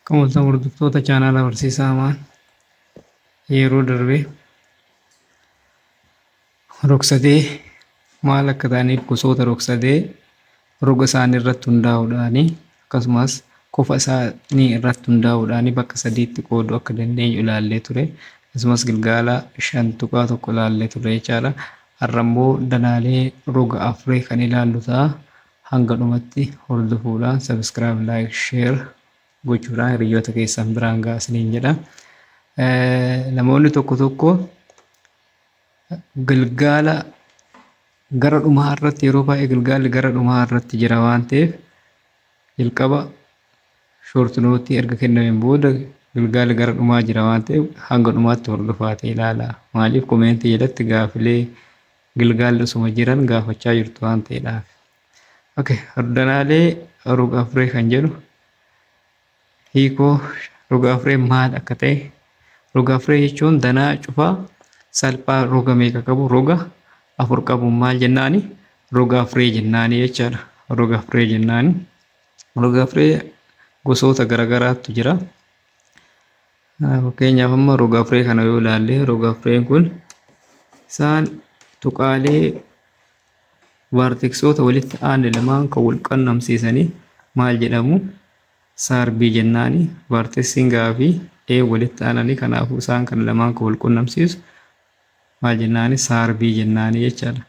Akkam oltan hordoftoota chaanaala barsiisaa Amaan yeroo darbe rogsadee maal akka ta'aniif gosoota rogsadee roga isaanii irratti hundaa'uudhaani akkasumas kofa isaanii irratti hundaa'uudhaani bakka sadiitti qooduu akka dandeenyu ilaallee ture akkasumas gilgaala shan tuqaa tokko ilaallee ture jechaadha har'a immoo danaalee roga afurii kan ilaallu ta'a Hanga dhumatti hordofuudhaan subscribe like share gochuudhaan hiriyyoota keessan biraan ga'a isiniin jedha. Namoonni tokko tokko gilgaala gara dhumaa irratti yeroo baay'ee gilgaalli gara dhumaa irratti jira waan ta'eef jalqaba short note erga kennameen booda gilgaalli gara dhumaa jira waan ta'eef hanga dhumaatti hordofaa ta'e ilaala. Maaliif komeentii jalatti gaafilee Gilgaalli osuma jiran gaafachaa jirtu waan ta'eedhaaf. Ok, hordanaalee roga afuree kan jedhu hiikoo roga afuree maal akka ta'e roga afuree jechuun danaa cufaa salphaa roga meeqa qabu roga afur qabu maal jennaani roga afuree jennaani jechaadha. Roga afuree jennaani. Roga afuree gosoota garaagaraatu jira. Fakkeenyaaf amma rog-afree kana yoo ilaalle rog-afreen kun isaan tuqaalee vaarteksoota walitti aanne lamaan kan wal qunnamsiisanii maal jedhamu saarbii jennaani vaarteksiin fi ee walitti aananii kanaafuu isaan kan lamaan kan wal qunnamsiisu maal jennaani saarbii jennaani jechaadha.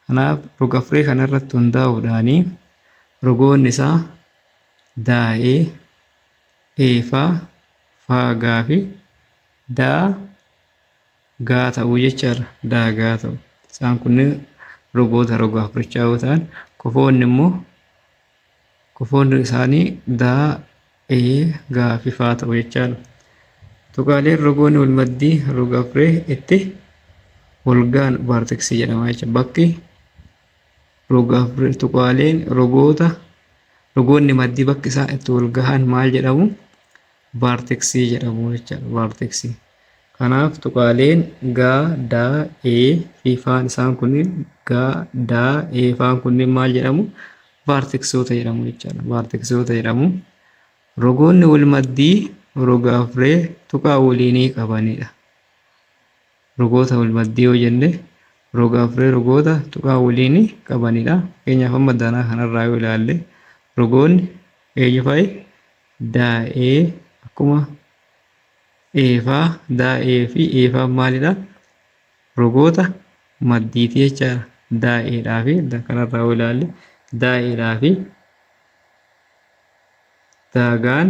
Kanaaf rog-afree kana irratti hundaa'uudhaanii rogoonni isaa daa'ee eefaa, faa, gaa fi daa, gaa ta'uu jechaadha. Daagaa ta'u. Isaan kunniin rogoota roga afurichaa yoo ta'an, kofoonni immoo kofoonni isaanii daa, ee, gaa fi faa ta'u jechaadha. Tuqaaleen rogoonni wal maddii roga afuree itti wal ga'an vaarteksii jedhama jechuudha. Bakki Rogaaf birtuqaaleen rogoota rogoonni maddii bakki isaan itti wal gahan maal jedhamu? Vaarteksii jedhamu jechaadha. Vaarteksii. Kanaaf tuqaaleen gaa, daa, ee fi faan isaan kunniin gaa, daa, ee faan kunniin maal jedhamu? Vaarteksoota jedhamu jechaadha. Vaarteksoota jedhamu. Rogoonni wal maddii rogaaf ree tuqaa waliinii qabanidha. Rogoota walmaddii yoo jenne roga afree rogoota tuqaa waliinii qabanidha. Fakkeenyaaf amma danaa kanarraa yoo ilaalle rogoonni eenyufa'i? Daa, ee akkuma eefaa daa, ee fi eefaan maalidha? Rogoota maddiiti jechaadha. Daa, eedhaa fi da kanarraa yoo ilaalle daa, eedhaa fi daagaan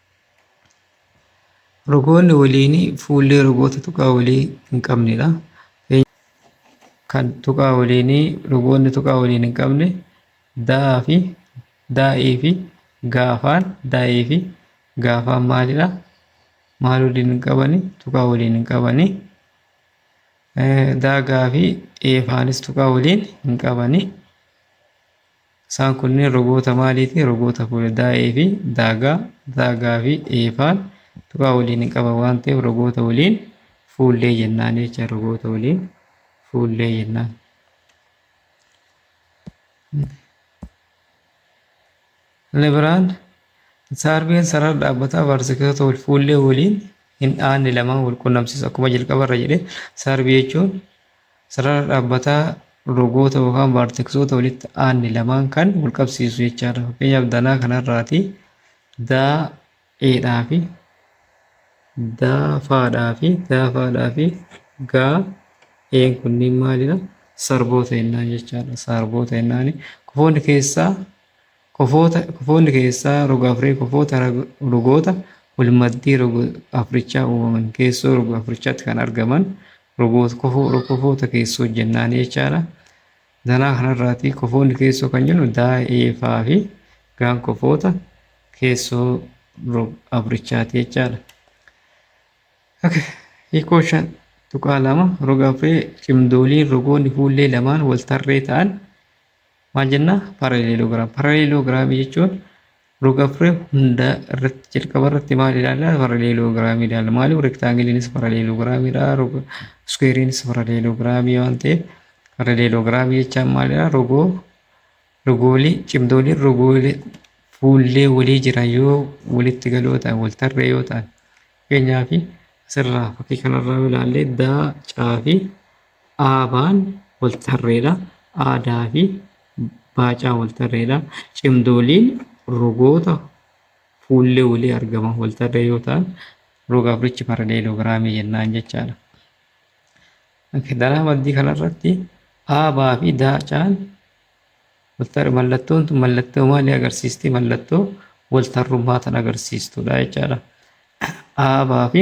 Rogoonni waliinii fuullee rogoota tuqaa walii hin qabnedha. Kan tuqaa waliinii rogoonni tuqaa waliin hin qabne daa fi daa'ii fi gaafaan daa'ii fi gaafaan maalidha? Maal waliin hin qabani? Tuqaa waliin hin qabani. Daagaa fi eefaanis tuqaa waliin hin qabani. Isaan kunneen rogoota maaliiti? Rogoota fuula daa'ee fi daagaa, daagaa fi eefaan tuqaa waliin hin qaban waan ta'eef rogoota waliin fuullee jennaan jecha rogoota waliin fuullee jennaan. Inni biraan saarbeen sarara dhaabbataa vaartikeloota wal fuullee waliin hin dhaanne lamaan wal qunnamsiisu akkuma jalqabarra jedhe saarbii jechuun Sarara dhaabbataa rogoota yookaan vaarteksoota walitti aanne lamaan kan wal qabsiisu jechaadha. Fakkeenyaaf danaa kanarraati daa eedhaa fi daa faadhaa fi daa faadhaa fi gaa een kunniin maalidha? Sarboota jennaan jechaadha. Sarboota jennaani. Kofoonni keessaa kofoota kofoonni keessaa roga afree kofoota rag- rogoota walmaddii roga africhaa uumaman keessoo roga africhaatti kan argaman Robot kofoo kofoota keessoo hojjennaan jechaadha. Danaa kanarraati kofoonni keessoo kan jennu daa'ee fa'aa fi gaan kofoota keessoo abrichaati jechaadha. Okay. Hiikoo shan tuqaa lama roga afree cimdooliin rogoonni fuullee lamaan wal tarree ta'an maal jenna paralelogiraam paralelogiraamii jechuun rogafree hunda irratti jalqaba irratti maal ilaalla paralelogiraamii ilaalla maaliif rektaangiliinis paralelogiraamiidha roga iskuweeriinis paralelogiraamii waan ta'eef paralelogiraamii jechaan maalidha rogoo rogoolii cimdooliin rogoolii fuullee walii jiran yoo walitti galoo ta'an wal tarree yoo ta'an fakkeenyaaf asirraa fakkii kanarraa yoo ilaalle daa caa fi Aabaan waltarreedha. Aadaafi baacaan waltarreedha. Cimdooliin rogoota fuullee walii argaman waltarree yoo ta'an roga afurichi paraleelogiraamii jennaan jechaadha. Kidaraa maddii kanarratti aabaa fi daacaan mallattoon tun mallattoo maalii agarsiisti? Mallattoo waltarrummaa tan agarsiistudha jechaadha. Aabaa fi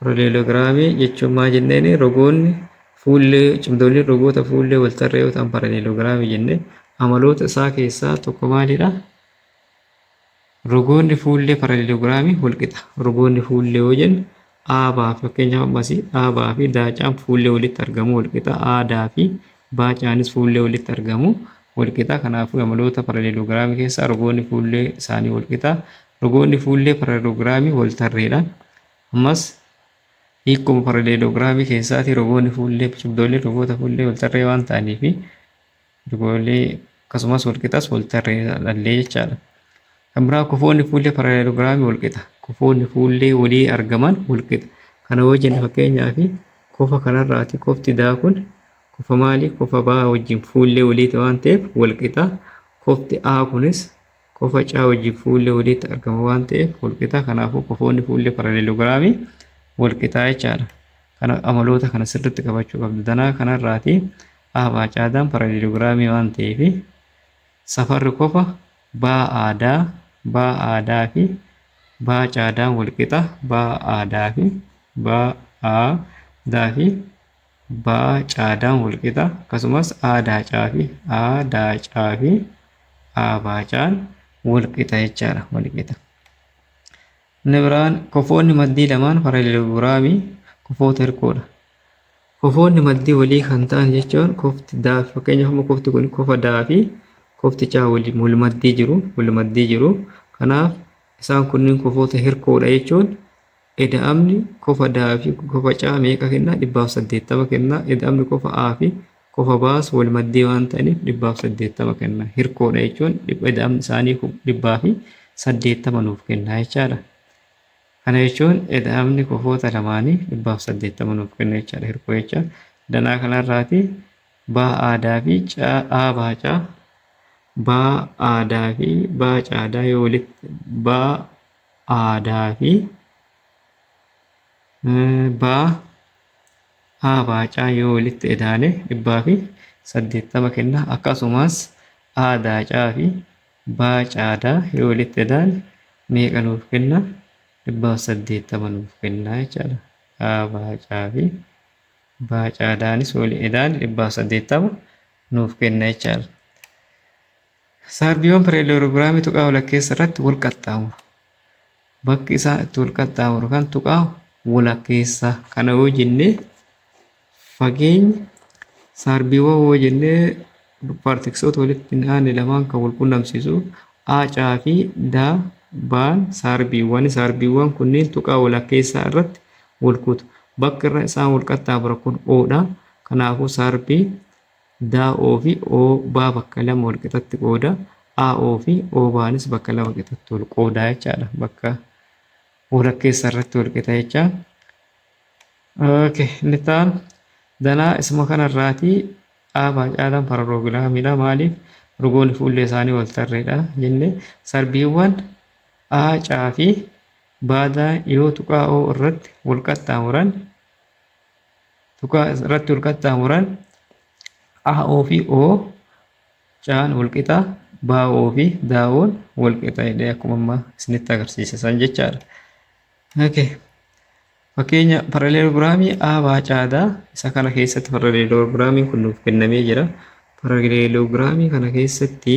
Paraleelogiraamii jechuun maa jenneeni rogoonni fuullee cimdooliin rogoota fuullee wal tarree yoo ta'an paraleelogiraamii jenne amaloota isaa keessaa tokko maalidha? Rogoonni fuullee paraleelogiraamii wal qixa. Rogoonni fuullee yoo jennu aabaa fi fakkeenyaaf ammas aabaa fi daacaan fuullee walitti argamu wal qixa. Aadaa fi baacaanis fuullee walitti argamu wal qixa. Kanaafuu amaloota paraleelogiraamii keessaa rogoonni fuullee isaanii wal qixa. Rogoonni fuullee paraleloogiraamii waltarreedha. Ammas hiikkuma paraleeloogiraamii keessaatii rogoonni fuullee cubdoolleen rogoota fuullee waltarree waan ta'aniif rogoolee akkasumas walqixas waltarree dhallee jechaadha. Kan biraa kofoonni fuullee paraleeloogiraamii walqixa. Kofoonni fuullee walii argaman walqixa. Kana yoo jenne fakkeenyaaf kofa kanarraati kofti daa kun kofa maali kofa baa wajjin fuullee waliiti waan ta'eef walqixa. Kofti A kunis Kofa caa wajjin fuullee waliitti argama waan ta'eef walqixa. Kanaafuu kofoonni fuullee paraleelogiraamii walqixaa jechaadha. Kana amaloota kana sirriitti qabachuu qabda. Danaa kanarraati A baa caadaan paraleelogiraamii waan ta'eef safarri kofa baa aadaa baa aadaa fi baa caadaan walqixa baa aadaa fi baa aadaa fi baa caadaan walqixa akkasumas aa daacaafi aa daacaafi aa baacaan walqixa jechaadha walqixa. Inni biraan kofoonni maddii lamaan paraleelogiraamii kofoota hirkoodha. Kofoonni maddii walii kan ta'an jechuun kofti daa fakkeenyaaf amma kofti kun kofa daa fi kofti caa waliin wal maddii jiru wal maddii jiru. Kanaaf isaan kunniin kofoota hirkoodha jechuun Eda'amni kofa daa fi kofa caa meeqa kennaa? 180 kennaa. Eda'amni kofa aa fi kofa baas wal maddee waan ta'aniif 180 kennaa. Hirkoodha jechuun eda'amni isaanii 180 nuuf kennaa jechaadha. Kana jechuun eda'amni kofoota lamaanii 180 nuuf kenna jechaadha hirkoo jecha. Danaa kanarraati baa aadaa fi caa aa baa caa baa aadaa fi baa caadaa yoo walitti baa aadaa fi baa haa baacaa yoo walitti edaane dhibbaa fi saddeettama kenna akkasumas aadaa caa fi baa caadaa yoo walitti edaane meeqa nuuf kenna dhibbaa fi saddeettama nuuf kenna jechaadha haa baacaa fi baa caadaanis wali edaane dhibbaa fi saddeettama nuuf kenna jechaadha. Saardiyoon pareeloogiiraamii tuqaa walakkeessa irratti wal qaxxaamuru. Bakki isaa itti wal qaxxaamuru kan tuqaa walakkeessaa. Kana yoo jennee fageenyi saardiiwwan yoo jennee paartiksoota walitti hin aanne lamaan kan wal qunnamsiisu aacaa fi daa baan saarbiiwwan saarbiiwwan kunniin tuqaa walakkeessaa irratti wal kutu. Bakki irra isaan wal qaxxaamura kun oodha. Kanaafuu saarbii Daa'oo fi o baa bakka lama wal qixatti qooda. AO fi O baanis bakka lama qixatti wal qooda jechaadha. Bakka walakkeessa irratti wal qixa jechaa. Okay, inni itti aanu danaa isuma kanarraatii A baa caalaan paraloogilaamiidha. Maaliif? Rugoonni fuullee isaanii wal tarreedha jenne. Sarbiiwwan A caa fi baadaan yoo tuqaa O irratti wal qaxxaamuran Tuqa irratti wal qaxxaamuran AO fi O caan wal qixa BO fi DAO'n wal qixa jedhee akkuma amma isinitti agarsiise san jechaadha. Okay. Fakkeenya paraleelogiraamii A baa caadaa isa kana keessatti paraleelogiraamiin kun nuuf kennamee jira. Paraleelogiraamii kana keessatti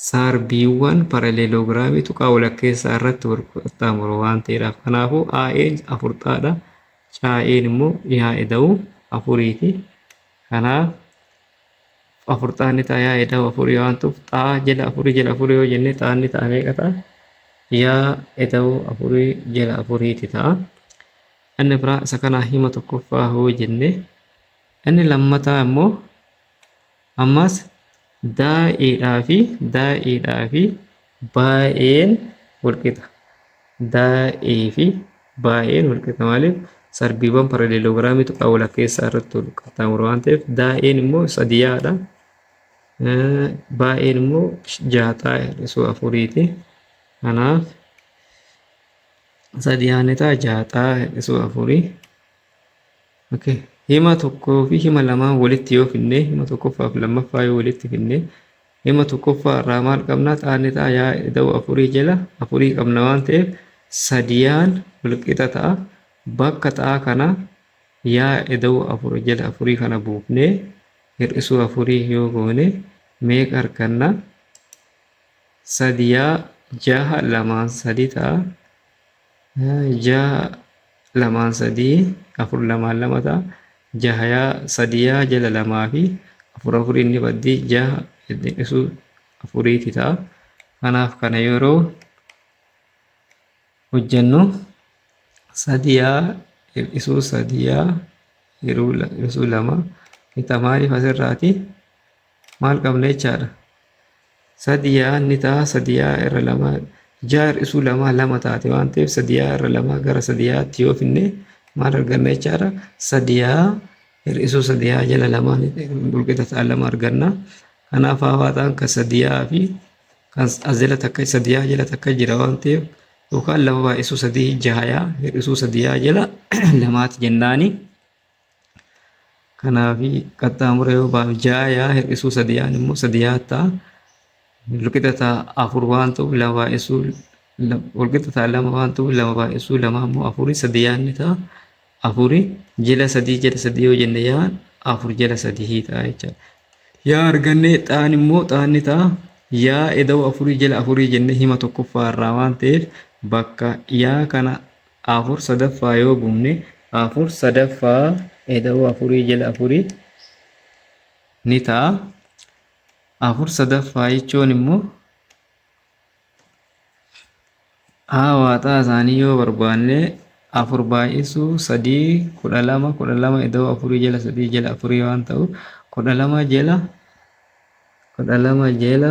Saarbiiwwan paraleeloogiraamii tuqaa walakkeessaa irratti wal qaxxaamuru waan ta'eedhaaf. Kanaafuu, AE'n 4 xaa dha. CAE'n immoo yaa eda'u 4 ti. Kanaaf, 4 xaa ni ta'a yaa eda'u 4 waan ta'uuf xaa jala 4 jala 4 yoo jenne xaan ni ta'a meeqa ta'a? Yaa eda'u 4 jala 4 ti ta'a. Inni biraa isa kanaa hima tokkoffaa hoo jenne inni lammataa immoo Ammas daa'eedhaa fi daa'eedhaa fi baay'een walqixa. Daa'ee fi baay'een walqixa maaliif sarbiiwwan paraleeloogiraamii tuqaa walakkeessaa irratti wal qaxxaamuru waan ta'eef daa'een immoo sadiyaadha. Baay'een immoo jaaxaa hir'isuu afuriiti. Kanaaf sadiyaan isaa jaaxaa hir'isuu afurii. ok hima tokkoo fi hima lamaa walitti yoo finnee hima tokkoffaa fi lammaffaa yoo walitti finnee hima tokkoffaa irraa maal qabnaa xaanni ta'a yaa ida'u afurii jala afurii qabna waan ta'eef sadiyaan walqixa ta'a bakka xaa kana yaa ida'u afur jala afurii kana buufnee hir'isuu afurii yoo goone meeqa arganna sadiyaa jaha lamaan sadii ta'a Jaha lamaan sadii afur lamaan lama ta'a. Jahaya sadiya jala lamaa fi afur afuriin ni baddi jaha ittiin dhisu afuriiti ta'a. Kanaaf kana yeroo hojjennu sadiya hir'isuu sadiya hir'isuu lama. Kita maaliif asirraati? Maal qabna jechaadha. Sadiyaa ni ta'a sadiyaa irra lama ja'a hir'isuu lamaa lama taate waan ta'eef sadiyaa irra lama gara sadiyaatti yoo finne maal arganna jechaadha. Sadiyaa hir'isuu sadiyaa jala lama walqixa ta'a lama arganna. Kanaaf haawaataan kan sadiyaa fi kan as jala takka sadiyaa jala takka jira waan ta'eef yookaan lama baay'isuu sadii jahayaa hir'isuu sadiyaa jala lamaati jennaani. Kanaafi qaxxaamura yoo baanu ja'a yaa hir'isuu sadi yaan immoo sadi yaa ta'a. Walqixa ta'a afur waan ta'uuf lama baay'isuu walqixa ta'a lama waan ta'uuf lama baay'isuu lama immoo afurii sadi yaa inni ta'a. Afuri jila sadii jila sadii yoo jenne yaa afur jila sadii ta'a jechaadha. Yaa argannee xaan immoo xaanni ta'a. Yaa eda'uu afurii jila afurii jenne hima tokkoffaa irraa waan ta'eef bakka yaa kana 4 sadaffaa yoo buune 4 sadaffaa eda'uu afurii jala afurii ni ta'a. 4 sadaffaa jechuun immoo haa waaxaa isaanii yoo barbaanne afur baay'isuu sadii kudha lama kudha lama ida'uu afurii jala sadii jala afurii waan ta'u kudha lama jala kudha lama jala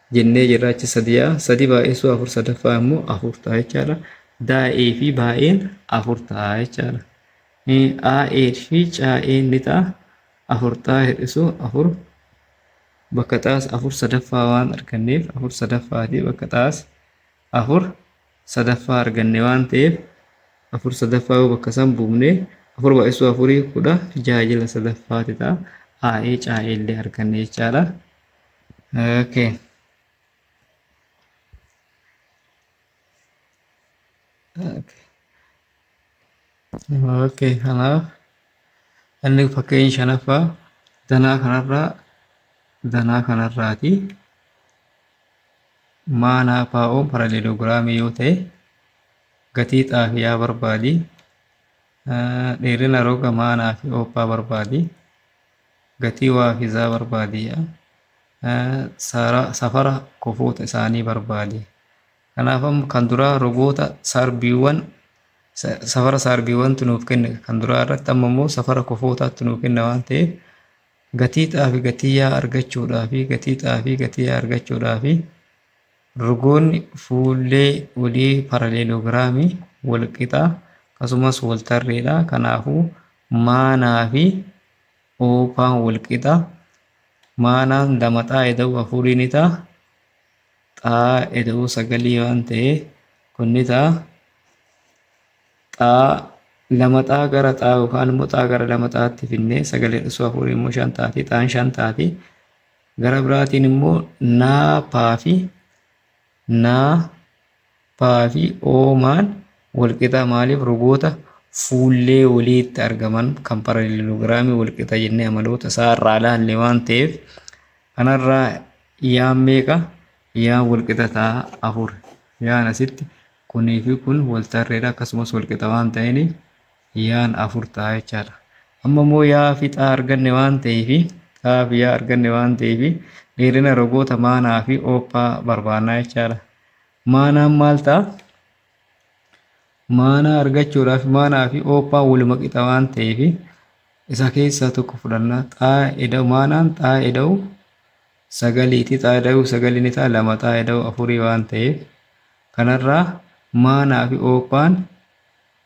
jennee jirra achi sadi yaa'a sadi baay'isuu afur sadaffaa immoo afur ta'a jechaadha daa'ee fi baay'een afur ta'a jechaadha aa'ee fi caa'een ni ta'a afur ta'a hir'isuu afur bakka xaas afur sadaffaa waan arganneef afur sadaffaati bakka xaas afur sadaffaa arganne waan ta'eef afur sadaffaa yoo bakka san buufne afur baay'isuu afurii kudha jaha jila sadaffaati ta'a aa'ee caa'ee illee arganne jechaadha. Okay. Okay. Okay, kanaaf inni fakkeenya shanaffaa danaa kanarraa danaa kanarraati. Maanaa paa'oo paraleeloogiraamii yoo ta'e gatii xaafiyaa barbaadi. Dheerina roga maanaa fi ooppaa barbaadi. Gatii waafizaa barbaadi. Safara kofoota isaanii barbaadi. Kanaaf amma kan duraa rogoota saarbiiwwan safara saarbiiwwantu nuuf kenne kan duraa irratti amma immoo safara kofootaatti nuuf kenna waan ta'eef gatii xaafi gatii yaa argachuudhaa fi gatii xaafi gatii yaa argachuudhaa fi rogoonni fuullee olii paraleeloogiraamii walqixa akkasumas waltarreedha kanaafuu Maanaa fi oopaan wal qixa. Maanaan damaxaa eda'uu afurii ni ta'a. Xaa eda'uu sagalii waan ta'ee kun ni ta'a. Xaa lama xaa gara xaa yookaan immoo xaa gara lama xaatti finnee sagalee dhusuu afurii immoo shan taati. Xaan shan taati. Gara biraatiin immoo naapaa fi naa, paa fi oomaan walqixa maaliif rogoota fuullee waliitti argaman kan paralelogiraamii walqixa jennee amaloota isaa irraa ilaalle waan ta'eef kanarraa yaan meeqa yaan walqixa ta'a afur yaan asitti kunii fi kun waltarreedha akkasumas walqixa waan ta'eeniif Yaan 4 ta'a jechaadha. Amma immoo yaa fi xaa arganne waan ta'eef xaa fi yaa arganne waan ta'eef dheerina rogoota maanaa fi oophaa barbaannaa jechaadha. Maanaan maal ta'a? Maanaa argachuudhaaf maanaa fi oophaan waluma qixa waan ta'eef isa keessaa tokko fudhanna. Xaa eda'u maanaan xaa eda'u sagaliiti. Xaa eda'u sagalii ni ta'a lama xaa eda'u afurii waan ta'eef kanarraa maanaa fi oophaan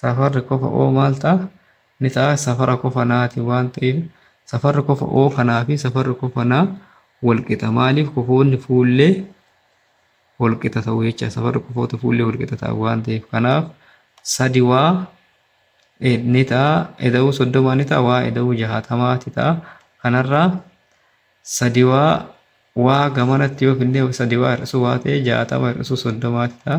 Safarri kofa o maal ta'a? Ni ta'a safara kofa na ti waan ta'eef safarri kofa o kanaa fi safarri kofa na wal qixa. Maaliif kofoonni fuullee wal qixa ta'u jecha safarri kofoota fuullee wal qixa ta'an waan ta'eef kanaaf sadi waa e ni ta'a eda'uu soddomaa ni ta'a waa eda'uu jahaatamaa ti ta'a kanarraa sadi waa waa gamanatti yoo finnee sadi waa hir'isuu waa ta'e jahaatama hir'isuu soddomaa ti ta'a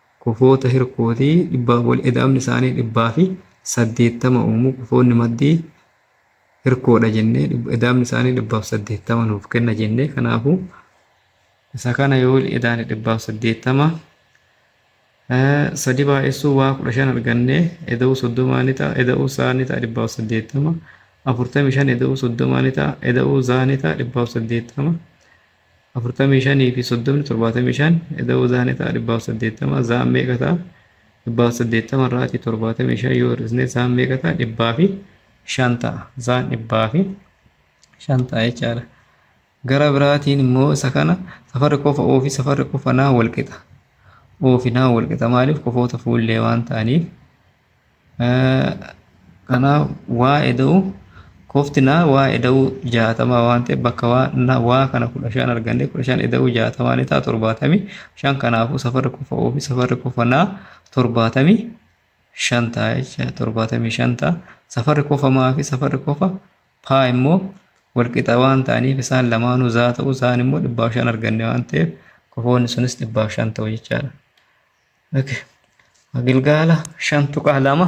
Kufoota hirkootii dhibbaan wal eda'amni isaanii dhibbaa fi saddeettama uumu. Kufoonni maddii hirkoodha jennee dhib- eda'amni isaanii dhibbaaf saddeettama nuuf kenna jennee kanaafuu isa kana yoo wal edaane dhibbaaf saddeettama eh, sadi baay'essuu waa kudha shan argannee eda'uu soddomaa ni ta'a eda'uu saa ni ta'a dhibbaaf saddeettama afurtamii shan eda'uu soddomaa ni ta'a eda'uu zaa ni ta'a dhibbaaf saddeettama afurtamii shanii fi soddomni torbaatamii shan eda'uu zaa ni ta'a dhibbaaf saddeettama zaan meeqa ta'a dhibbaaf saddeettama irraati torbaatamii shan yoo hir'isne zaan meeqa ta'a dhibbaa fi shan ta'a zaan dhibbaa fi shan ta'a jechaadha gara biraatiin immoo isa kana safarri kofa oo fi safarri kofa naa walqixa oo fi naa walqixa maaliif kofoota fuullee waan ta'aniif Kanaaf waa eda'u kofti naa waa eda'u jaatamaa waan ta'e bakka waa na waa kana kudha shan arganne kudha shan eda'u jaatamaa ni ta'a torbaatamii shan kanaafuu safarri kofa oofi safarri kofa naa torbaatamii shan ta'a jecha torbaatamii shan ta'a safarri kofa maa fi safarri kofa paa immoo walqixa waan ta'aniif isaan lamaanuu zaa ta'u zaan immoo dhibbaaf shan arganne waan ta'eef kofoonni sunis dhibbaaf shan ta'u jechaadha. Okay. Gilgaala 5.2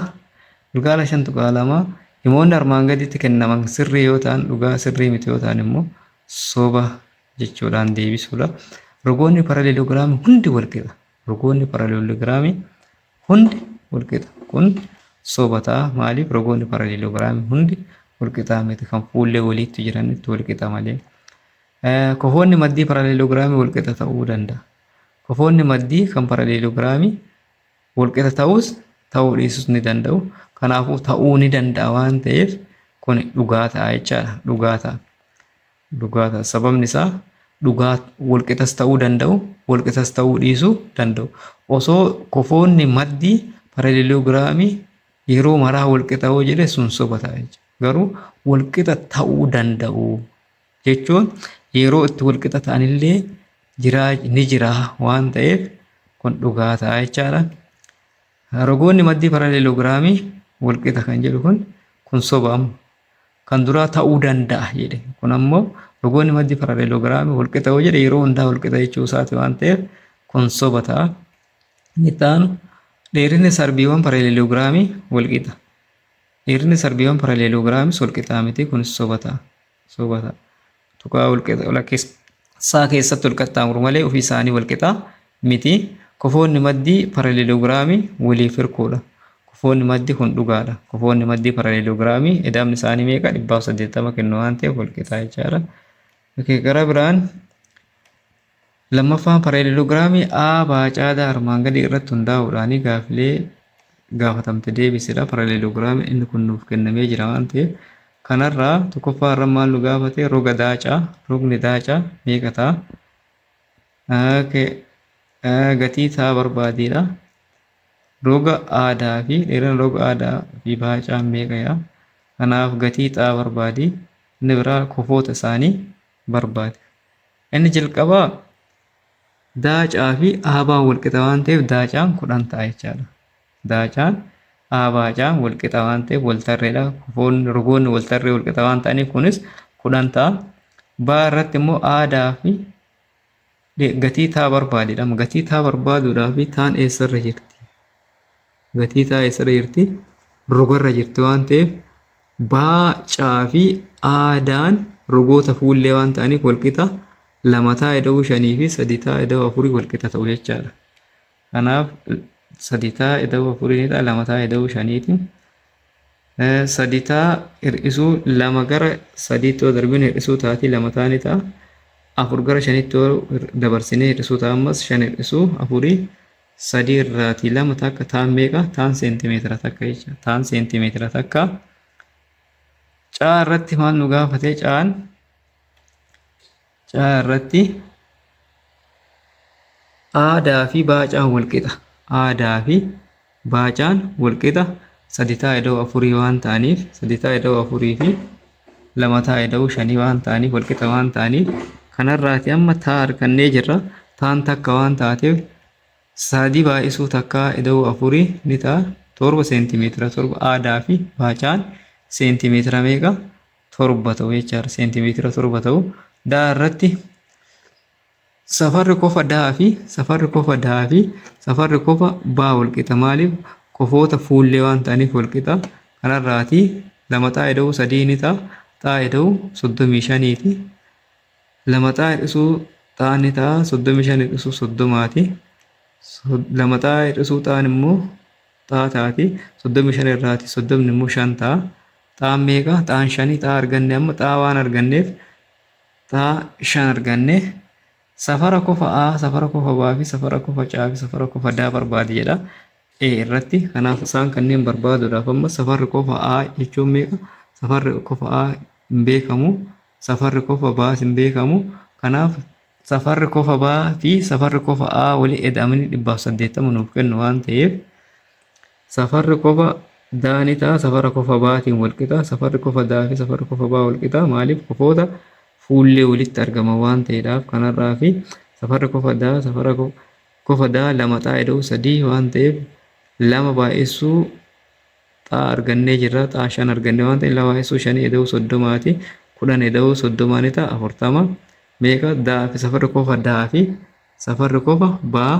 Gilgaala 5.2 himoonni armaan gaditti kennaman sirrii yoo ta'an dhugaa sirrii miti yoo ta'an immoo soba jechuudhaan deebisuudha. Rogoonni paraleelogiraamii hundi walqixa. Rogoonni paraleelogiraamii hundi walqixa. Kun soba ta'a. Maaliif rogoonni paraleelogiraamii hundi walqixaa miti kan fuullee waliitti jiranitti walqixa malee. Kofoonni maddii paraleelogiraamii walqixa ta'uu danda'a. Kofoonni maddii kan paraleelogiraamii walqixa ta'uus ta'uu dhiisuus ni danda'u. Kanaafuu ta'uu ni danda'a waan ta'eef kun dhugaa ta'a jechaadha. Dhugaa ta'a. Dhugaa ta'a. Sababni isaa dhugaa walqixas ta'uu danda'u, walqixas ta'uu dhiisuu danda'u. Osoo kofoonni maddii paraleelogiraamii yeroo maraa walqixa yoo jedhe sun soba ta'a jechuudha. Garuu walqixa ta'uu danda'u. jechuun yeroo itti wal qixa ta'an illee jiraa ni jira waan ta'eef kun dhugaa ta'a jechaadha. Rogoonni maddii paraleeloogiraamii wal qixa kan jedhu kun kun soba amma kan duraa ta'uu danda'a jedhe kun ammoo rogoonni maddii paraleeloogiraamii wal qixa yoo jedhe yeroo hundaa wal qixa jechuu isaati waan ta'eef kun soba ta'a. Inni itti aanu dheerinni sarbiiwwan paraleeloogiraamii wal qixa. Dheerinni sarbiiwwan paraleeloogiraamiis wal qixaa miti kunis soba ta'a. Soobata tuqaa walakkeessaa keessatti wal qaxxaamuru malee ofii isaanii wal qixa miti. Kofoonni maddii paraleelogiraamii waliif hirkoodha. Kofoonni maddii kun dhugaadha. Kofoonni maddii paraleelogiraamii eda'amni isaanii meeqa? 180 kennu waan ta'eef wal qixa jechaadha. Gara biraan Lammaffaan pareelilogiraamii A baacaadaa armaan gadii irratti hundaa'uudhaan gaafilee gaafatamte deebisidha. Pareelilogiraamiin inni kun nuuf kennamee jira waan ta'eef kanarraa tokkoffaa irra maal nu gaafate roga daacaa rogni daacaa meeqa ta'a? Gatii ta'a barbaadiidha. Roga aadaa fi dheerina roga aadaa fi baacaan meeqa yaa? Kanaaf gatii ta'a barbaadi. Inni biraa kofoota isaanii barbaadi. Inni jalqabaa daacaa fi aabaan walqixa waan ta'eef daacaan kudhan ta'a jechaadha. Daacaan aabaacaan walqixa waan ta'eef waltarreedha. Kufoonni rogoonni waltarree walqixa waan ta'aniif kunis kudhan ta'a. Baa irratti immoo aadaa fi gatii taa barbaadidha. Gatii taa barbaaduudhaa fi taan eessarra jirti? gatii taa eessadha jirti rogarra jirti waan ta'eef baacaa fi aadaan rogoota fuullee waan ta'aniif walqixa lama taa eda'uu shanii fi sadi taa eda'uu afurii walqixa ta'u jechaadha. Kanaaf sadi taa eda'uu afuriinidha lama taa eda'uu shaniiti. Sadi taa hir'isuu lama gara sadiitti yoo darbine hir'isuu taatii lama taa ni ta'a. Afur gara shaniitti yoo dabarsinee hir'isuu ta'a ammas shan hir'isuu afurii 3 irraatii 2 takka taan meeqa? Taan seentimeetira takka jecha. Taan seentimeetira takka. Caa irratti maal nu gaafate? Caan caa irratti aadaa fi baacaan walqixa. Aadaa fi baacaan walqixa sadi taa idoo afurii waan ta'aniif sadi taa idoo afurii fi lama taa eda'uu shanii waan ta'aniif walqixa waan ta'aniif kanarraati amma taa argannee jirra taan takka waan taateef saadii baay'isuu takkaa eda'uu afurii ni ta'a torba seentimeetira torba aadaa fi baacaan seentimeetira meeqa torba ta'u jechaadha seentimeetira torba ta'u daa irratti Safarri kofa daa fi safarri kofa daa fi safarri kofa baa walqixa maaliif kofoota fuullee waan ta'aniif walqixa kanarraati lama xaa ida'uu sadii ni ta'a xaa ida'uu soddomii shaniiti lama xaa hir'isuu xaa ni ta'a soddomii shan hir'isuu soddomaati lama xaa hir'isuu xaan immoo xaa taati soddomii shan irraati soddomni immoo shan ta'a xaan meeqa xaan shanii xaa arganne amma xaa waan arganneef taa 5 arganne. Safara kofa A, safara kofa B fi safara kofa C fi safara kofa D barbaadi jedha A irratti. Kanaaf isaan kanneen barbaaduudhaaf amma safarri kofa A jechuun meeqa? Safarri kofa A hin beekamu. Safarri kofa B hin beekamu. Kanaaf safarri kofa B fi safarri kofa A wali eda'amanii 180 nuuf kennu waan ta'eef Safarri kofa daa ni ta'a, safara kofa baatiin wal qixa. Safarri kofa daa fi safarri kofa baa wal qixa. Maaliif? Kofoota fuullee walitti argaman waan ta'eedhaaf kanarraa fi safarri kofa daa safara kofa daa lama xaa ida'u sadii waan ta'eef lama baay'essuu xaa argannee jirra. Xaa shan arganne waan ta'eef lama baay'essuu shanii ida'u soddomaati. Kudhan ida'u soddomaa ni ta'a afurtama. Meeqa daa fi safarri kofa daa fi safarri kofa baa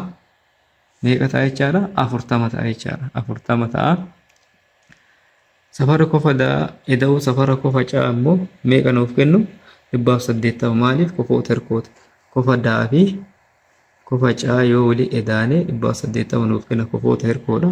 meeqa ta'a jechaadha? afurtama ta'a jechaadha. afurtama ta'a. Safara kofa da eda'uu safara kofa ca'a immoo meeqa nuuf kennu? dhibbaaf saddeettama maaliif kofoota hirkoota. Kofa daa fi kofa caa yoo wali edaane dhibbaaf saddeettama nuuf kenna kofoota hirkoodha.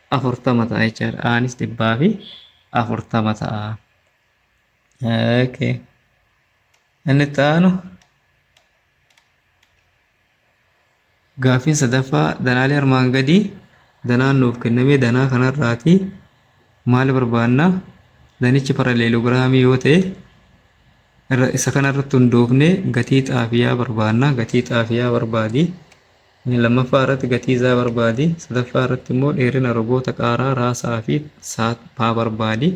40 ta'a jechaadha. Aanis dhibbaa fi 40 ta'a. Okay. Inni itti aanu gaaffiin sadaffaa danaalee armaan gadii danaan nuuf kenname danaa kanarraati maal barbaanna danichi paraleelogiraamii yoo ta'e irra- isa kanarratti hundoofne gatii xaafiyaa barbaanna gatii xaafiyaa barbaadi Inni lammaffaa irratti gatii isaa barbaadi. Sadaffaa irratti immoo dheerina rogoota qaaraa, raasaa fi saaphaa barbaadi.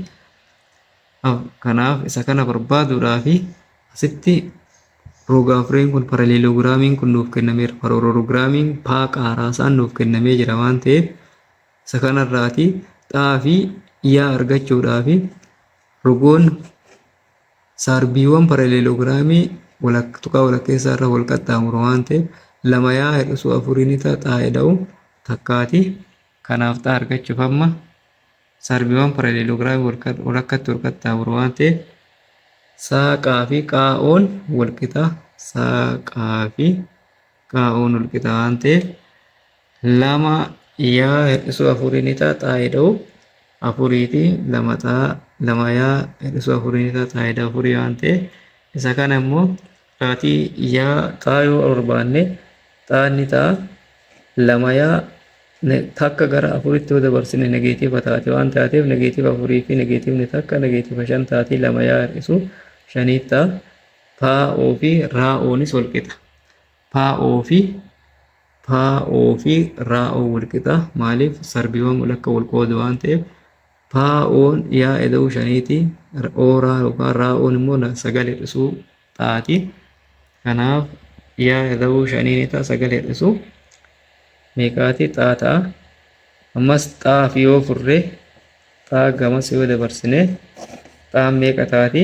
Kanaaf isa kana barbaaduudhaaf asitti roga afreen kun paraleeloogiraamiin kun nuuf kennameera. Paraleeloogiraamiin paa qaaraasaan nuuf kennamee jira waan ta'eef isa kanarraati xaa fi yaa argachuudhaaf rogoon Sarbiiwwan paraleelogiraamii walak, tuqaa walakkeessaa irra wal qaxxaamuru waan ta'eef lama yaa hir'isuu afurii ni ta'a xaa eda'u takkaati. Kanaaf xaa argachuuf amma sarbiiwwan paraleelogiraamii walka, walakkatti wal qaxxaamuru waan ta'eef saa qaa fi qaa oon wal qixa saa qaa fi kaa'uun walqixa waan ta'eef lama yaa hir'isuu afurii ni ta'a xaa'ee dha'u afuriiti lama xaa lama yaa hir'isuu afurii ni ta'a xaa'ee dha'u afurii waan ta'eef isa kana immoo kaatii yaa xaa yoo barbaanne xaa ni ta'a lama yaa takka gara afuritti yoo dabarsine negeetiiva taati waan taateef negeetiiva afurii fi negeetiivni takka negeetiiva shan taati lama yaa hir'isuu shanii ta'a taa'oo fi raa'oonis walqixa. Paa'oo fi paa'oo fi raa'oo walqixa maaliif sarbiiwwan walakka wal qoodu waan ta'eef paa'oon yaa eda'uu shaniiti ooraa yookaan raa'oon immoo sagal hir'isuu taati kanaaf yaa eda'uu shaniini ta'a sagal hir'isuu meeqaati xaa ta'a ammas xaa fi yoo furre xaa gamas yoo dabarsine xaan meeqa taati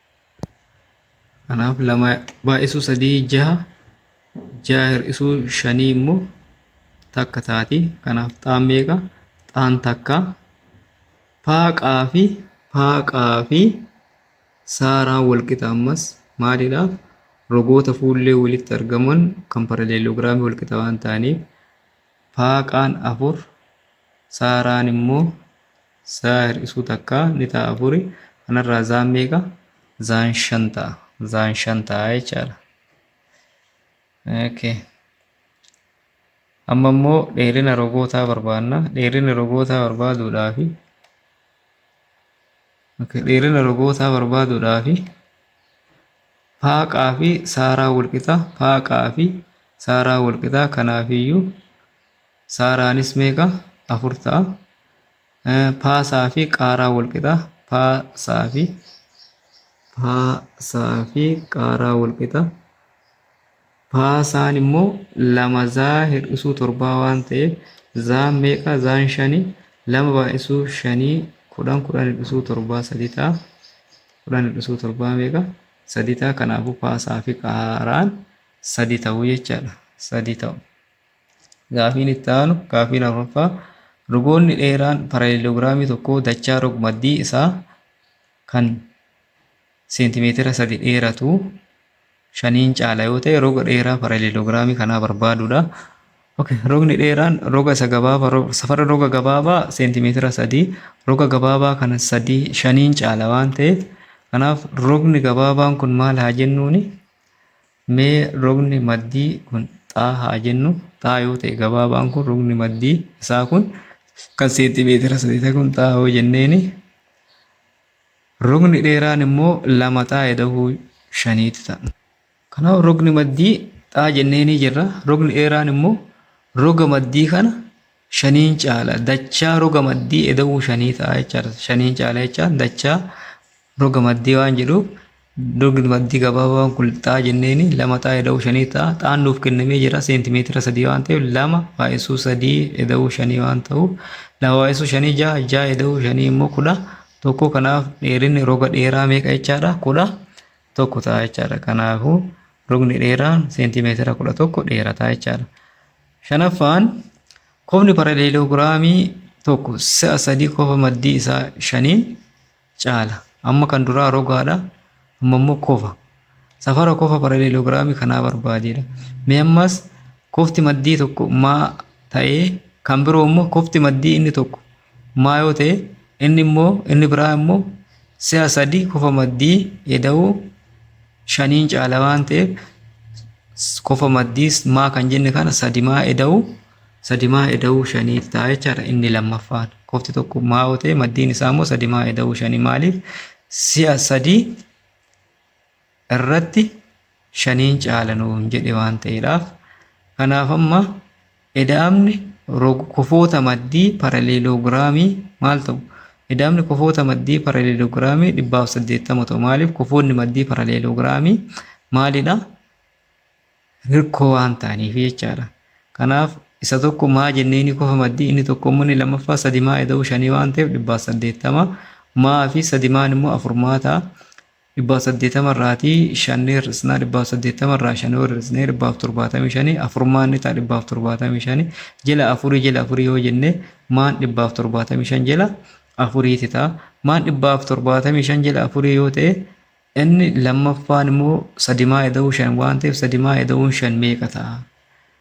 Kanaaf lama baay'isuu sadii jaha jaha hir'isuu shanii immoo takka taati. Kanaaf xaan meeqa? Xaan takka. Paaqaa fi paaqaa fi saaraan walqixa ammas maalidhaaf? Rogoota fuullee walitti argaman kan paraleeloogiraamii walqixa waan ta'aniif paaqaan afur saaraan immoo Zaa hir'isuu takka ni ta'a afuri. Kanarraa zaan meeqa? Zaan shan ta'a. Zaan shan ta'a jechaadha. Okay. Amma immoo dheerina rogootaa barbaanna. Dheerina rogootaa barbaaduudhaafi okay. dheerina rogootaa barbaaduudhaafi paaqaa fi saaraa walqixa paaqaa fi saaraa walqixa kanaafiyyuu Saaraanis meeqa? 4 ta'a. Paasaa fi qaaraa wal qixa. Paasaa fi paasaa fi qaaraa wal qixa. Paasaan immoo lama zaa hir'isuu torbaa waan ta'eef zaan meeqa? Zaan shani lama baay'isuu shanii kudhan kudhan hir'isuu torbaa sadii ta'a. Kudhan hir'isuu torbaa meeqa? Sadii ta'a. Kanaafuu paasaa fi qaaraan sadii ta'u jechaadha. Sadii ta'u. Gaafiin itti aanu gaafii lammaffaa rogoonni dheeraan paraleelogiraamii tokkoo dachaa rogmaddii isaa kan seentimeetira sadi dheeratu shaniin caala yoo ta'e roga dheeraa paraleelogiraamii kanaa barbaaduudha. Okay, rogni dheeraan roga isa gabaabaa ro- safara roga gabaabaa seentimeetira sadii roga gabaabaa kana sadii shaniin caala waan ta'eef kanaaf rogni gabaabaan kun maal haa jennuuni Mee rogni maddii kun xaa haa jennu, xaa yoo ta'e gabaabaan kun rogni maddii isaa kun kan seentimeetira sadii ta'e kun xaa yoo jenneeni rogni dheeraan immoo lama xaa edahuu shaniitti ta'a. Kanaaf rogni maddii xaa jenneenii jirra. Rogni dheeraan immoo roga maddii kana shaniin caala dachaa roga maddii eda'uu shanii ta'a jechaadha. Shaniin caala jechaan dachaa roga maddii waan jedhuuf rogni maddii gabaabaan kun xaa jenneeni lama xaa eda'uu shanii ta'a. Xaan nuuf kennamee jira seentimeetira sadii waan ta'eef lama baay'isuu sadii eda'uu shanii waan ta'uuf lama baay'isuu shanii ja'a ja'a eda'uu shanii immoo kudha tokko kanaaf dheerinni roga dheeraa meeqa jechaadha kudha tokko ta'a jechaadha. Kanaafuu rogni dheeraan seentimeetira kudha tokko dheerataa jechaadha. Shanaffaan, kofni paraleeloogiraamii tokko si'a sadii kofa maddii isaa shaniin caala. Amma kan duraa rogaadha, amma immoo kofa. Safara kofa paraleeloogiraamii kanaa barbaadeedha. Mee ammas kofti maddii tokko maa ta'ee kan biroo immoo kofti maddii inni tokko maa yoo ta'e inni immoo inni biraa immoo si'a sadii kofa maddii eda'uu shaniin caala waan ta'eef kofa maddii maa kan jenne kana sadi maa eda'uu sadi maa eda'uu shaniif ta'a jechaadha inni lammaffaan kofti tokko maa yoo ta'e maddiin isaa immoo sadi maa eda'uu shanii maaliif si'a sadii irratti shaniin caala nuun jedhe waan ta'eedhaaf kanaaf amma eda'amni kofoota maddii paraleeloogiraamii maal ta'u? Eda'amni kofoota maddii paraleeloogiraamii dhibbaaf saddeettama ta'u maaliif kofoonni maddii paraleeloogiraamii maalidha? Hirkoo waan ta'aniif jechaadha. Kanaaf isa tokko maa jennee ni kofa maddii inni tokko immoo inni lammaffaa sadi maa eda'uu shanii waan ta'eef dhibbaaf saddeettama maa fi sadi maan immoo afur maa ta'a dhibbaaf saddeettama irraatii shanni hir'isnaa dhibbaaf saddeettama irraa shan yoo hir'isnee dhibbaaf torbaatamii shani afurmaan ni ta'a dhibbaaf torbaatamii shani jala afurii jala afurii yoo jenne maan dhibbaaf torbaatamii shan jala afuriiti ta'a maan dhibbaaf torbaatamii shan jala afurii yoo ta'e inni lammaffaan immoo sadimaa eda'uu shan waan ta'eef sadimaa eda'uun shan meeqa ta'a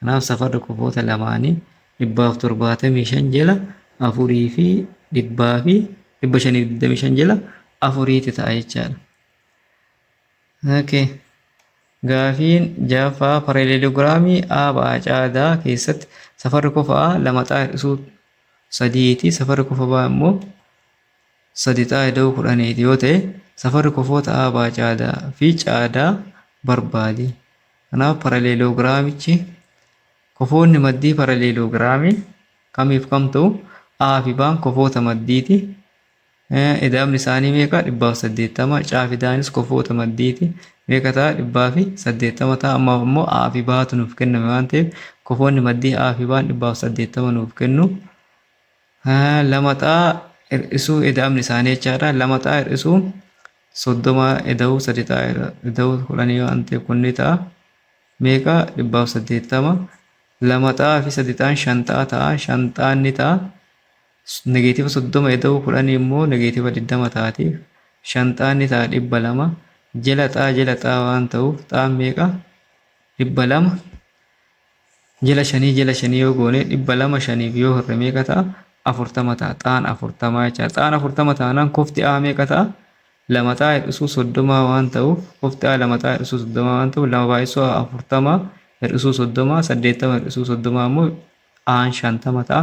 Kanaaf safarri kofoota lamaanii 175 jala 4 fi 100 fi 525 jala 4 ti ta'a jechaadha. Okay. Gaafiin jaaffaa pareeleelogiraamii A ba'a caadaa keessatti safarri kofa A lama xaa hir'isuu sadiiti safarri kofa B immoo sadi xaa ida'uu kudhaniiti yoo ta'e safarri kofoota A ba'a caadaa fi caadaa barbaadi. Kanaaf paraleeloogiraamichi kofoonni maddii paraleeloogiraamii kamiif kam ta'u? A fi B'n kofoota maddiiti. Ida'amni isaanii meeqa? 180. C fi Daanis kofoota maddiiti. Meeqa ta'a? 180 ta'a. Ammaaf immoo A fi B'tu nuuf kenname waan ta'eef kofoonni maddii A fi B'n 180 nuuf kennu. Lamaxaa hir'isuu eda'amni isaanii jechaadha. Lamaxaa hir'isuu soddoma eda'uu sadixaa eda'uu kudhanii yoo antee kun ni ta'a. Meeqa dhibbaaf saddeettama. Lamaxaa fi sadixaan shanxaa ta'a. Shanxaan ni ta'a. Negeetiiva soddoma eda'uu kudhanii immoo negeetiiva digdama taati. Shanxaan ni ta'a dhibba lama. Jela xaa jela xaa waan ta'uuf xaan meeqa dhibba lama. Jila shanii jila shanii yoo goone dhibba lama shaniif yoo hirre meeqa ta'a? Afurtama ta'a. Xaan afurtamaa jechaadha. Xaan afurtama taanaan kofti A meeqa ta'a? Lama xaa hir'isuu soddomaa waan ta'uuf kofti A lama xaa hir'isuu soddomaa waan ta'uuf lama baay'isuu A afurtama hir'isuu soddomaa saddeettama hir'isuu soddomaa immoo Aan shantama ta'a.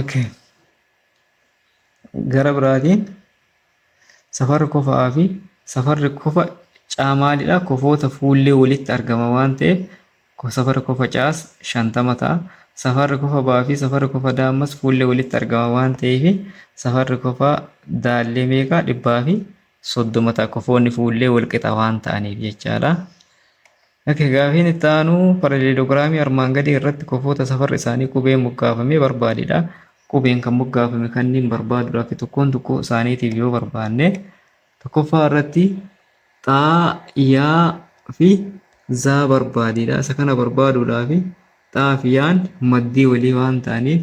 Okay. Gara biraatiin safarri kofa'aa fi safarri kofa caa maalidha? Kofoota fuullee walitti argama waan ta'eef ko- safarri kofa caas shantama ta'a. Safarri kofa ba'aa fi safarri kofa daa ammas fuullee walitti argama waan ta'eef safarri kofa daallee meeqa? Dhibbaa fi soddoma ta'a. Kofoonni fuullee wal qixa waan ta'aniif jechaadha. Ok, gaafiin itti aanu paraleelogiraamii armaan gadii irratti kofoota safarri isaanii qubeen moggaafame barbaadi dha. Qubeen kan moggaafame kanniin barbaaduudhaaf tokkoon tokkoo isaaniitiif yoo barbaanne tokkoffaa irratti xaa, yaa fi zaa barbaadi dha. Isa kana barbaaduudhaaf xaa fi yaan maddii walii waan ta'aniif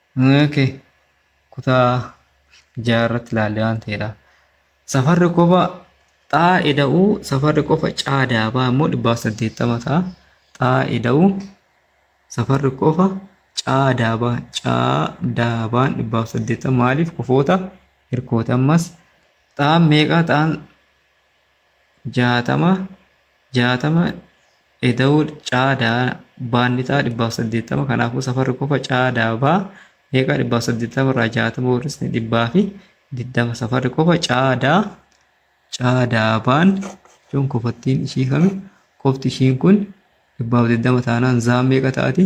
Ok kutaa ja'a irratti ilaalle waan ta'eedha. Safarri qofa xaa eda'uu safarri qofa caa daabaa immoo dhibbaa fi saddeettama ta'a. Xaa eda'uu safarri qofa caa daabaa caa daabaan dhibbaa fi saddeettama maaliif kofoota hirkoota ammas xaan meeqaa xaan jaatama jaatama eda'uu caa daa baanni xaa dhibbaaf saddeettama kanaafuu safarri kofa caa daa baa meeqaa dhibbaaf saddeettama irraa jaatama hir'isne dhibbaa fi digdama safarri kofa caa daa caa daa baan jechuun kofattiin ishii kami kofti ishiin kun dhibbaaf digdama taanaan zaan meeqa ta'ati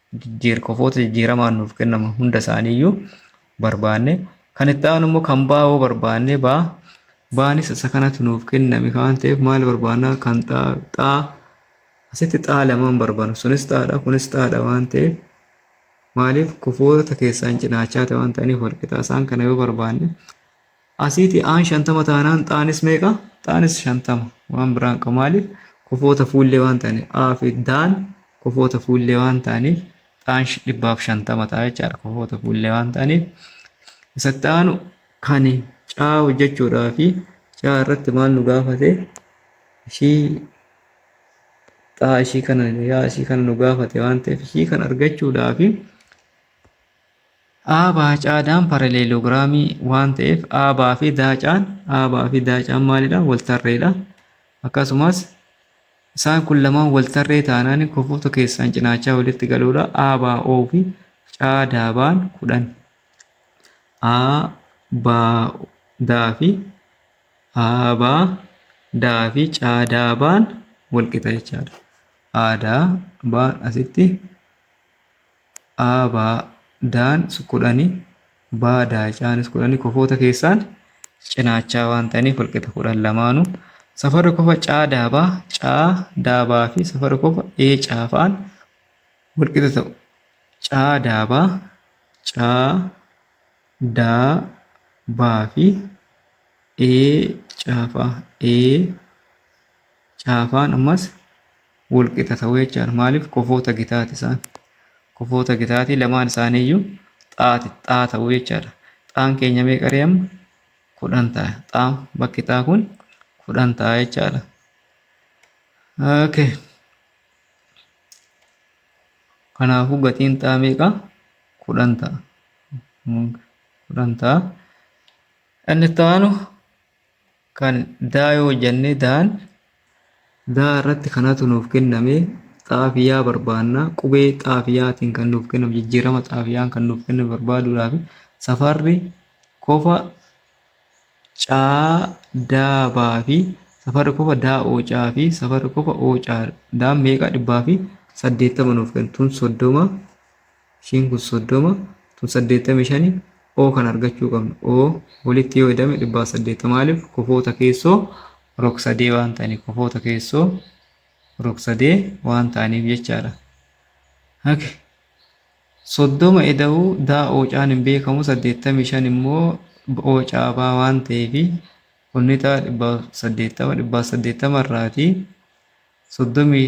jijjiir kofoota jijjiiramaan nuuf kennaman hunda isaanii iyyuu barbaanne kan itti aanu immoo kan baa'oo barbaanne baa baanis isa kanatu nuuf kenname waan ta'eef maal barbaanna kan xaa xaa asitti xaa lamaan barbaanna sunis xaadha kunis xaadha waan ta'eef maaliif kofoota keessaan cinaachaa ta'e waan ta'aniif walqixaa isaan kana yoo barbaanne Asiiti A'n 50 taanaan X'aanis meeqa? X'aanis 50. Waan biraa hin qabu. Maaliif? Kofoota fuullee waan ta'aniif. A fi D'n kofoota fuullee waan ta'aniif X'aan 150 ta'a jechaadha. Kofoota fuullee waan ta'aniif. Isatti aanu kan C'aa hojjechuudhaa fi C'aa irratti maal nu gaafate? Ishii X'aa ishii kana yaa ishii kana nu gaafate waan ta'eef ishii kan argachuudhaa fi Aabaa caadaan paraleeloogiraamii waan ta'eef aabaa fi daacaan aabaa fi daacaan maalidha waltarreedha. Akkasumas isaan kun lamaan waltarree taanaan kofoota keessaan cinaachaa walitti galuudha. Aabaa oo fi caadaabaan kudhan. Aabaa daa fi aabaa daa fi caadaabaan walqixa jechaadha. Aadaa baan asitti a ba daan kudhani ba daacaanis kudhani kofoota keessaan cinaachaa waan ta'aniif walqixa kudhan lamaanu safarri kofa caa daabaa caa daabaa fi safarri kofa ee caafaan walqixa ta'u caa daabaa caa daa baa fi ee caafaa ee caafaan ammas wol qixa ta'u jechaan maaliif kofoota gitaati isaan kofoota gitaati lamaan isaanii iyyuu xaati xaa ta'u jechaadha xaan keenya meeqa ree amma kudhan ta'a xaa bakki xaa kun kudhan ta'a jechaadha okay kanaafuu gatiin xaa meeqa kudhan ta'a kudhan ta'a inni itti aanu kan daa yoo hojjanne daan daa irratti kanatu nuuf kenname xaafiyaa barbaanna qubee xaafiyaatiin kan nuuf kenname jijjiirama xaafiyaan kan nuuf kenname barbaaduudhaaf safarri kofa caa daa baa fi safarri kofa daa oocaa fi safarri kofa oocaa daan meeqaa dhibbaa fi saddeettama nuuf kennu tun soddoma Ishiin kun 30 tun 85 O kan argachuu qabna. O walitti yoo hidhame 180 maaliif kofoota keessoo rogsadee waan ta'aniif kofoota keessoo rogsadee waan ta'aniif jechaadha. Hake soddoma eda'uu daa oocaan hin beekamu saddeettamii shan immoo oocaa baa waan ta'eef kunnitaa dhibbaa saddeettama dhibbaa saddeettama irraatii soddomii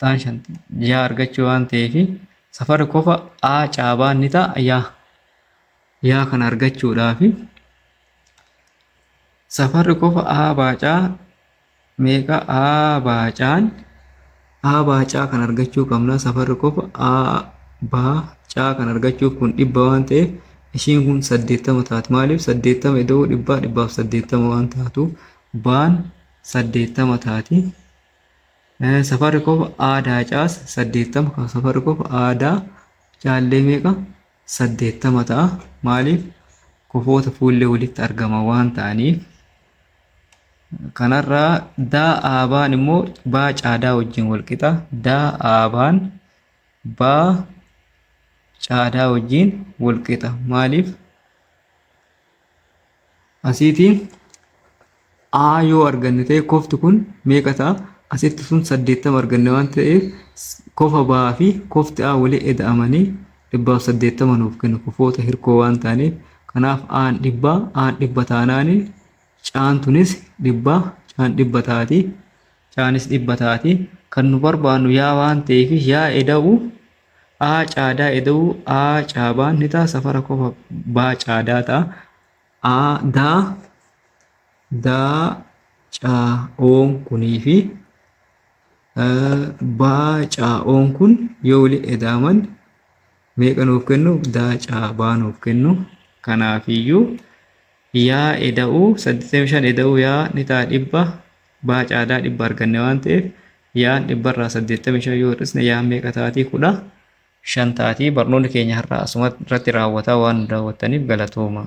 Taan shan yaa argachuu waan ta'eef safarri kofa A caabaan ni ta'a yaa yaa kan argachuudhaaf safarri kofa A baacaa meeqa A baacaan A baacaa kan argachuu qabna safarri kofa A baacaa kan argachuuf kun dhibba waan ta'eef ishiin kun saddeettama taati maaliif saddeettama ida'uu dhibbaa dhibbaaf saddeettama waan taatu baan saddeettama taati. Safarri qofa aadaa caas 80 safarri qofa aadaa caallee meeqa 80 ta'a maaliif kofoota fuullee walitti argama waan ta'aniif kanarraa daa aabaan immoo baa caadaa wajjin wal qixa daa aabaan baa caadaa wajjin wal qixa maaliif Asiitii A yoo arganne ta'e kofti kun meeqa ta'a? Asitti sun 80 arganne waan ta'eef kofa ba'aa fi kofti A walii eda'amanii 180 nuuf kennu kofoota hirkoo waan ta'aniif kanaaf A'n dhibba A'n dhibba taanaan Caan tunis dhibba Caan dhibba taati Caanis dhibba taati kan nu barbaannu yaa waan ta'eef yaa eda'u A caadaa eda'uu A caabaan ni ta'a safara kofa B caadaa ta'a A daa daa caa'oon kunii fi B caa'oon kun yoo wali edaaman meeqa nuuf kennu daa caabaa nuuf kennu kanaafiyyuu yaa eda'uu 85 eda'uu yaa ni ta'a dhibba Baa caadaa dhibba arganne waan ta'eef yaan dhibbarraa 85 yoo hir'isne yaan meeqa taatii 15 taatii barnoonni keenya har'aa asuma irratti raawwataa waan nu daawwattaniif galatoomaa.